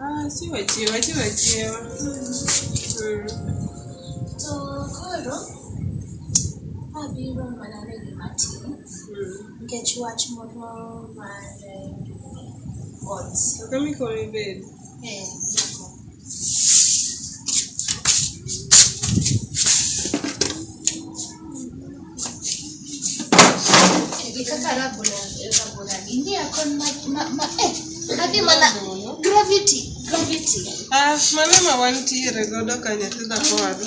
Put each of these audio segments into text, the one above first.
Ah, chiwo chiwo chiwo chiwo. To koro abiro mana ni gima tin nikech wach moro mar eh, ot. Kaka mikoni bed. Eh, nyako. wantiere godo ka nyathi dhako wadhi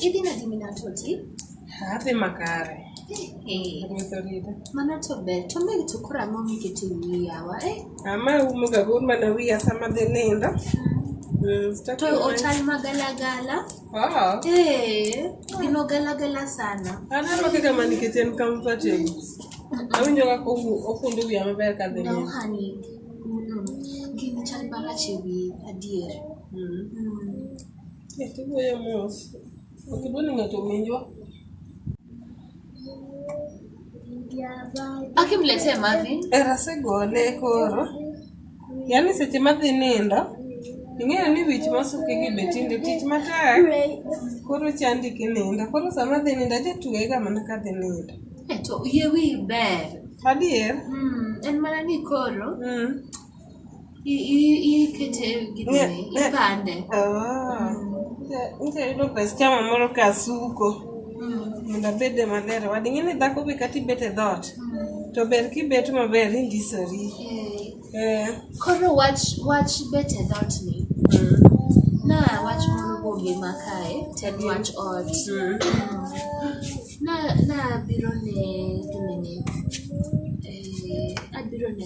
idhi nadi minatoti Adhi makare. Eh. Mano to ber. To mbe to koro ang'o mikitimo yawa eh? Ama umo ga gur mana wiya sama dhi nindo. Mm. Mm, to ochal magalagala. Oh. Eh, gino galagala sana. Ana ma kaka mani kiten comfortable. Awinjo kaka okundo wiya maber ka dhi. No honey. Gino chal marach e wiye adier. Mm. Mm. Yeah, to go your mouth. Ok idwa ni ng'ato owinjwa. Akimletee mavi. Era segole koro. Yaani seche madhi nindo, ing'eyo ni wich masuki gi be tinde tich matek. Koro chandi kinindo. Koro sama adhi nindo, ajatuega mana kadhi nindo. Eh, to yie wiyi ber. Adier? Mm, en mana ni koro Mm. I- i- Ikete e gini, Ne- ne- ipande. Ah, nite- nite yudo pes chama moro ka asuko mondo abede maler wadi ing'e ni dhako be kata ibet e dhoot to ber kibet maber indisori Eh, Eh, Koro wach wach bet e dhoot ni. Na wach moro bombe ma kae, to en wach ot. Na na abiro ne gimene. Eh, abiro ne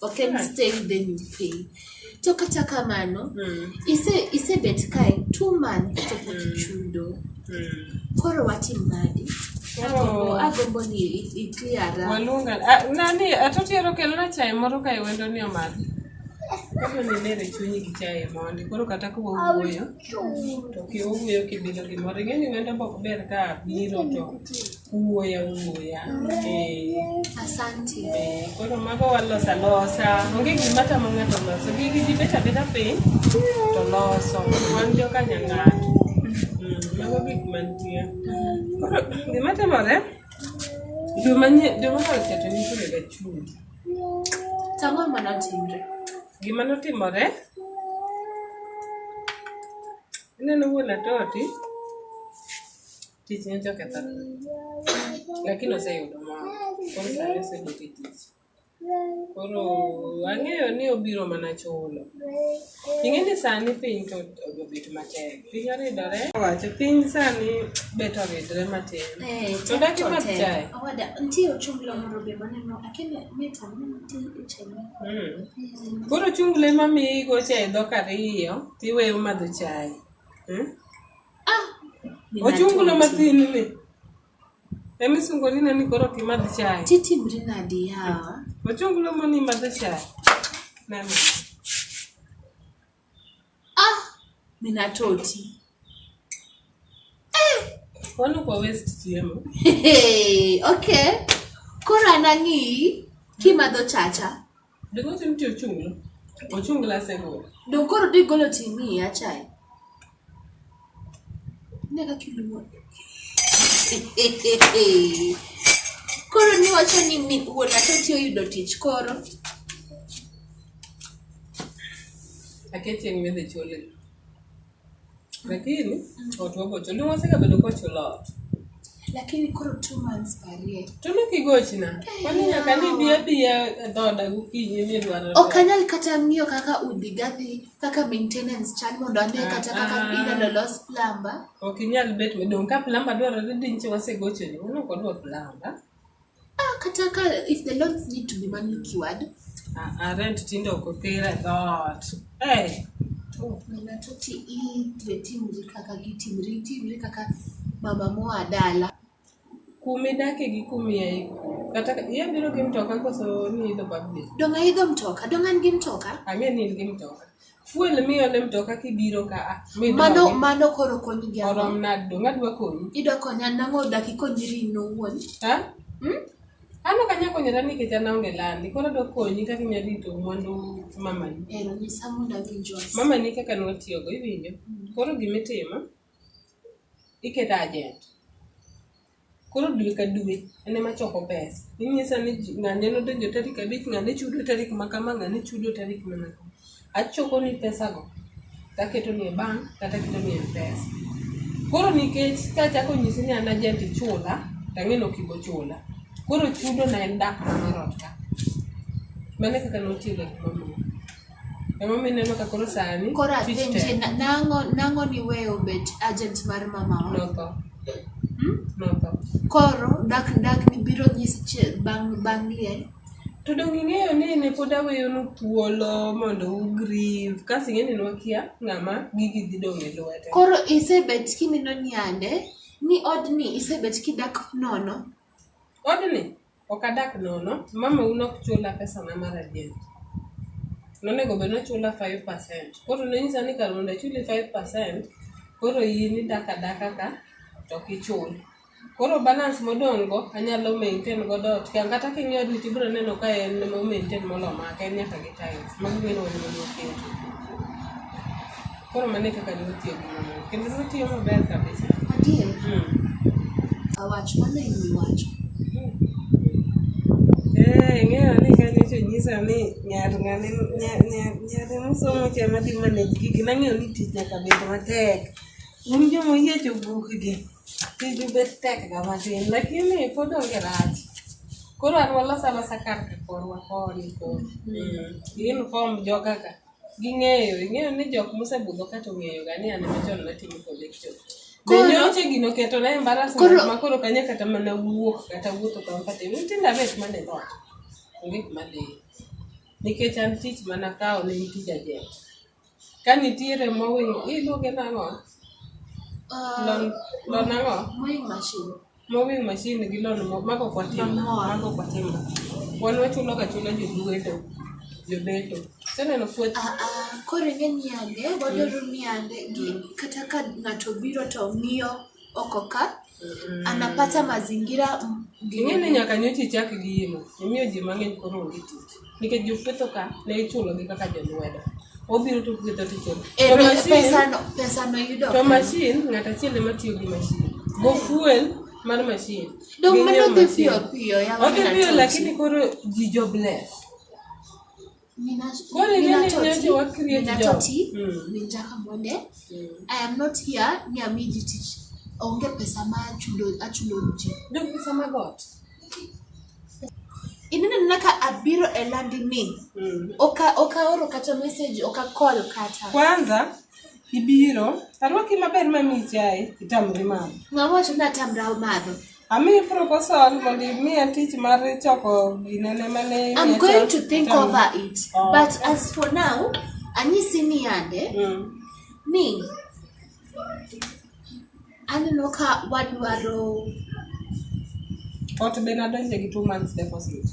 ok en stay with them you pay to kata kamano Mm. ise isebet kae two months to pok Mm. ichudo Mm. koro watim nadi Oh. agombo ni i- i clear up. Waluonga. Ah, Nani, atotiero kelona chai moro ka iwendo ni omadhi. Koro ni nere chunyi gi chai mondi. Koro kata ka wawuoyo, to kiwuoyo kibilo gimoro. Ing'e ni wendo bok ber ka biro to uwuoyo awuoya asante eh, koro mago waloso alosa onge gima tamo ng'ato loso gigi ji bet abeda piny to loso wan joka nyang'ato mm, mago gik mantie koro gima timore joma oketo nitiere ga chumbi tang'o ma notimre gima notimore ineno wuon atoti Tich nyocha okethore. Lakini oseyudo mor. Koro sani osedok e tich. Koro ang'eyo ni obiro mana chulo. Ing'e ni sani piny to obet matek. Piny oridore. Wacho piny sani bet oridore matin. Eh, To tek daki to mat tek. chae. Owada, nitie ochunglo moro be maneno, akene mit ang'e nitie e chai ma. Mm. Mm. Koro chungle mamiyi gocha e dhok ariyo tiweyo madho chai. Mm? Ah, Ochungulo matin ni. Emi sungolina ni koro pi madh chai. Titi brina di yawa. Ochungulo mani madh chai. Nani. Ah, mina toti. Eh. Wanu kwa west chiemo. Hey, okay. Kora nangi kimadho chacha. Dongote mti ochunglo. Ochungla asegolo. Donge koro dhi golo timi ya chae? Ne kaka iluwo. Koro ni wacho ni mi wuon akati oyudo tich koro. Aketi en medhe chole. Lakini watu wako choni wasika bado kwa chola. Lakini koro two months parie. Tumi kigochi na. Kwani nyaka ni bia bia dhoda gukinyi mi dwaro. Okanyal kata ng'iyo kaka udi gathi kaka maintenance chan mondo ane ah, kata kaka ah. ina lolos plumber. Okinyal bet me dong ka plumber dwaro ni dinchi wasegocho ni. Uno kodwa plumber. Ah, kata ka if the loans need to be manually cured. Ah, ah, rent tinde ok oter e dhoot. Eh, Oh, mana to ti itwe timri kaka gitimri, timri kaka mama moa dala. kuma idake gi kuma iaye. Kata ka- iya biro gi mtoka koso ni idho public. Donga idho mtoka, donga an gi mtoka. Ang'e ni in gi mtoka. Fuel miyo ne mtoka kibiro ka a. Mano mano koro konyi gi ang'o? Orom nado, ngadwa konyi. Idwa konya nang'o daki konyri in owuon? Ha? Hmm? Ano ka nyako nyara ni kecha na onge landi, koro do konyi kaka inya rito mwandu mamani. Ero ni samu na gi jos. Mama ni kaka nwa tiyo go iwinjo. Koro gimitimo iketa agent. koro dwe ka dwe en ema choko pesa inyisa ni ng'ane nodonjo tarik abich ng'ane chudo tarik ma kama ng'ane chudo tarik mana kama achoko ni pesago taketo ni e bank kata aketo ni e pesa koro nikech kachako nyisi ni an ajenti chula tang'e ni ok ibo chula koro chudo na en dak mar ot ka mane kaka notiyo gik mamoko Emomiyo ineno ka koro sani Koro tich apenje tek. na- nang'o nang'o niweyo bet agent mar mamawa? Notho. Hmm? Notho. Koro dak dak ni biro nyis che- bang' bang' liel. To donge ing'eyo ni ne pod aweyonu thuolo mondo ugrieve kasi ing'e ni nwakia ng'ama gigi dhi dong' e lwete. Koro isebet kimino nyande ni odni isebet kidak nono. Odni Ok adak nono, mama u nok chula pesa na mar ajent. Nonego bed nochula 5%. Koro nonyisa ni kar mondo achuli 5%, koro in idak adaka ka to ok ichul. Koro balance modong' go anyalo maintain godo ot. Ka- Kata king'iyo odi to ibiro neno ka en ema o maintain molo maka, en nyaka gi tiles. Magi gin wach ma noketo. Koro mane kaka ne otiyo gi mwandu. Kendo notiyo maber kabisa. Adier. Mm. Awach mano e wi wacho. Eh, ing'eyo ni ka nyocha onyisa ni nyar ng'ane nya- nya- nyare mosomo cha madhi manage gigi nang'eyo ni tich nyaka bed matek un joma oyiecho bukgi tiju bet tek ga matin lakini pod onge rach koro an walosa losa kar ka korwa koni koro Mm. uniform joga ka Ging'eyo, ing'eyo ni jok mosebudho kata ong'eyoga ni an ema chon natimo kode cho. Be Koro- nyoche gino keto na embarrassment Koro- ma koro kanya kata mana wuok kata wuotho kampate. Nyithindo abet mana e dhoot. Onge kuma adhiye. Nikech an tich mana kawo ne en tij ajent. Ka nitiere mowinjo, iluonge nang'o? Ah, Lon, lon ang'o? mowing machine. Mowing machine gi lon mo- mago ok watim. Lon moa. Mago ok watim. Wan wachulo ga chula jodweto. Jobeto. Seneno fuet. Ah, ah, koro ing'e niande wadwaro niande gi kata ka ng'ato biro to ng'iyo oko ka anapata mazingira m- Ing'e ni nyaka nyocha ichak gi imo. Imiyo ji mang'eny koro onge tich. nikech jopwetho ka ne ichulogi kaka jolwedo obiro to pwetho ticho to mashin ng'at achiel ema tiyo gi mashin go fuel mar mashin odhi piyo lakini koro ji jo bless koro ing'eni nyoche wa create job onge pesa ma achulo ji. Ndio pesa magot. ineno na ka abiro e landi ni mm. oka oka oro kata message oka call kata kwanza ibiro arwaki maber ma mi chai itamri madho ngawacho na tamra madho ami proposal mondo imiya tich mar choko ginene mane i'm going to think tam. over it oh. but as for now anyisi ni yande mm. ni Aneno ka wadwaro ot be nadonje gi two months deposit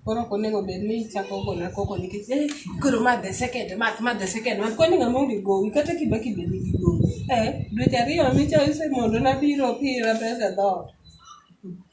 koro ok onego bed ni ichako gona koko nikech eh, koro ma the second month ma the second month kwani ng'ama onge gowi kata kibaki be nigi gowi eh, dweche ariyo micha ise mondo nabiro pira pesa dhoot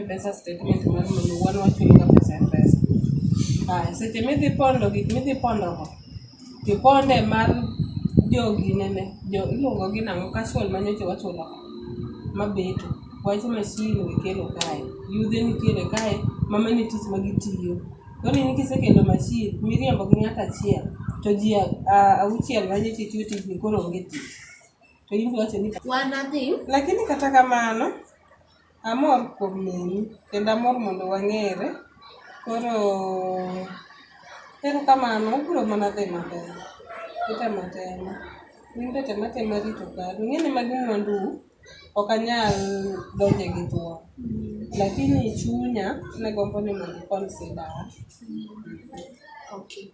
Mpesa statement mar minu wan wachuli ga pesa e Mpesa. Aya, seche midhi pondo gik midhi pondo go, tiponde mar jogi nene, jo iluongo gi nang'o casual ma nyocha wachulo ka, ma beto. Wach masin mikelo kae, yudhe mikele kae ma mine tich ma gitiyo. Koro in kisekelo masin miriembo gi ng'at achiel, to ji a a- auchiel ma nyocha itiyo tijni koro onge tich. To in iwacho ni. Wan adhi. Lakini kata kamano, Amor kuom neni kendo amor mondo wang'ere. Koro erokamano obiro mana dhi maber. Item atema. In be tem atema rito kari. Ing'e ni magi mwandu u. Ok anyal donje gi thuon. Lakini chunya ne gombo ni mondo i consider wa.